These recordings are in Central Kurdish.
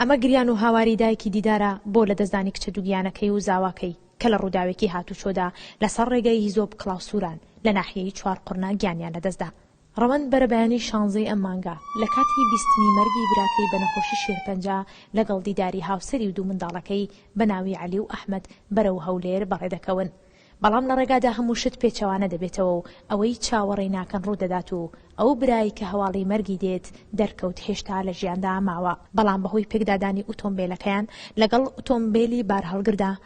ئەمە گریان و هاواری دایکی دیدارە بۆ لەدەستدانی کچە دووگیانەکەی و زاواکەی کە لە ڕووداوێکی هاتوچۆدا لەسەر ڕێگای هیزۆپ کڵاوسووران لە ناحیەی چوارقوڕنە گیانیان لەدەستدا. ڕەوەند بەرەبەیانی شانزەی ئەم مانگە، لە کاتی بیستنی مەرگی براکەی بە نەخۆشی شێرپەنجە، لەگەڵ دیداری هاوسەری و دوو منداڵەکەی بە ناوی عەلی و ئەحمەد بەرەو هەولێر بەڕێ دەکەون. بەڵام لە ڕێگادا هەموو شت پێچەوانە دەبێتەوە و ئەوەی چاوەڕێی ناکەن ڕوو دەدات و ئەو برای کە هەواڵی مەرگی دێت دەرکەوت هێشتا لە ژیاندا ماوە، بەڵام بەهۆی پێکدادانی ئوتۆمبێلەکەیان لەگەڵ ئوتۆمبێلی بارهەڵگردا،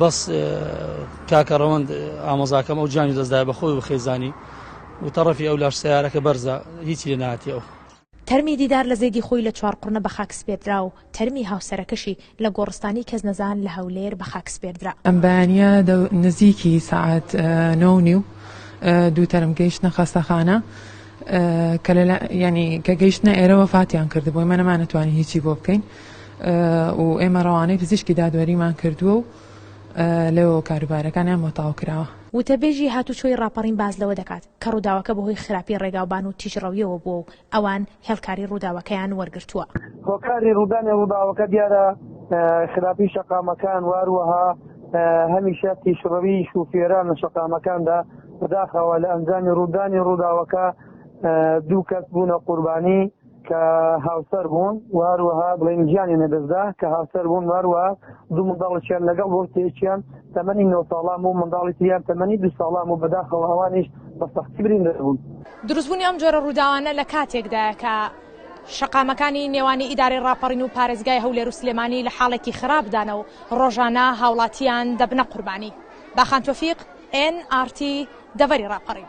بەس کاکە ڕەوەند ئامۆزاکەم ئەو جانی دەستدای بەخۆی و خێزانی و تەڕەفی ئەو لاش سەیارەکە بەرزە هیچی لێ ناتی ئەو. تەرمی دیدار لە زێدی خۆی لە چوارقوڕنە بە خاک سپێردرا و تەرمی هاوسەرەکەشی لە گۆڕستانی کەسنەزان لە هەولێر بە خاک سپێردرا. ئەم بەیانییە نزیکی سەعات نۆ و نیو دوو تەرم گەیشتنە خەستەخانە کە گەیشتنە ئێرە وەفاتیان کردبوو، ئێمە نەمانەتوانی هیچی بۆ بکەین. و ئێمە ڕەوانەی پزیشکی دادوەریمان کردووە و لەوەوە کاروبارەکانیان بۆ تاو کراوە. وتەبێژی هاتوچۆی ڕاپەڕین باس لەوە دەکات، کە ڕووداوەکە بەهۆی خراپی ڕێگاوبان و تیژڕەوییەوە بووە و ئەوان هێڵکاری ڕووداوەکەیان وەرگرتووە. هۆکاری ڕوودانی ڕووداوەکە دیارە خراپی شەقامەکان و هەروەها هەمیشە تیژڕەوی شوفێران لە شەقامەکاندا، بەداخەوە لە ئەنجامی ڕوودانی ڕووداوەکە دوو کەس بوونە قوربانی. کە هاوسەر بوون واروەها بڵێن گیانی نەدەستدا کە هاوسەر بوون واروە دوو منداڵکیان لەگەڵ بۆ تێکیان تەمەنی نۆ ساڵام و منداڵی تریان تەمەنی دو ساڵام و بەداخەوە ئەوانیش بە سەختی برین دەبوون دروستبوونی ئەم جۆرە ڕووداوانە لە کاتێکدایە کە شەقامەکانی نێوانی ئیدارەی ڕاپەڕین و پارێزگای هەولێر و سلێمانی لە حاڵێکی خراپدانە و ڕۆژانە هاوڵاتیان دەبنە قوربانی باخان تۆفیق، NRT، دەڤەری ڕاپەڕین.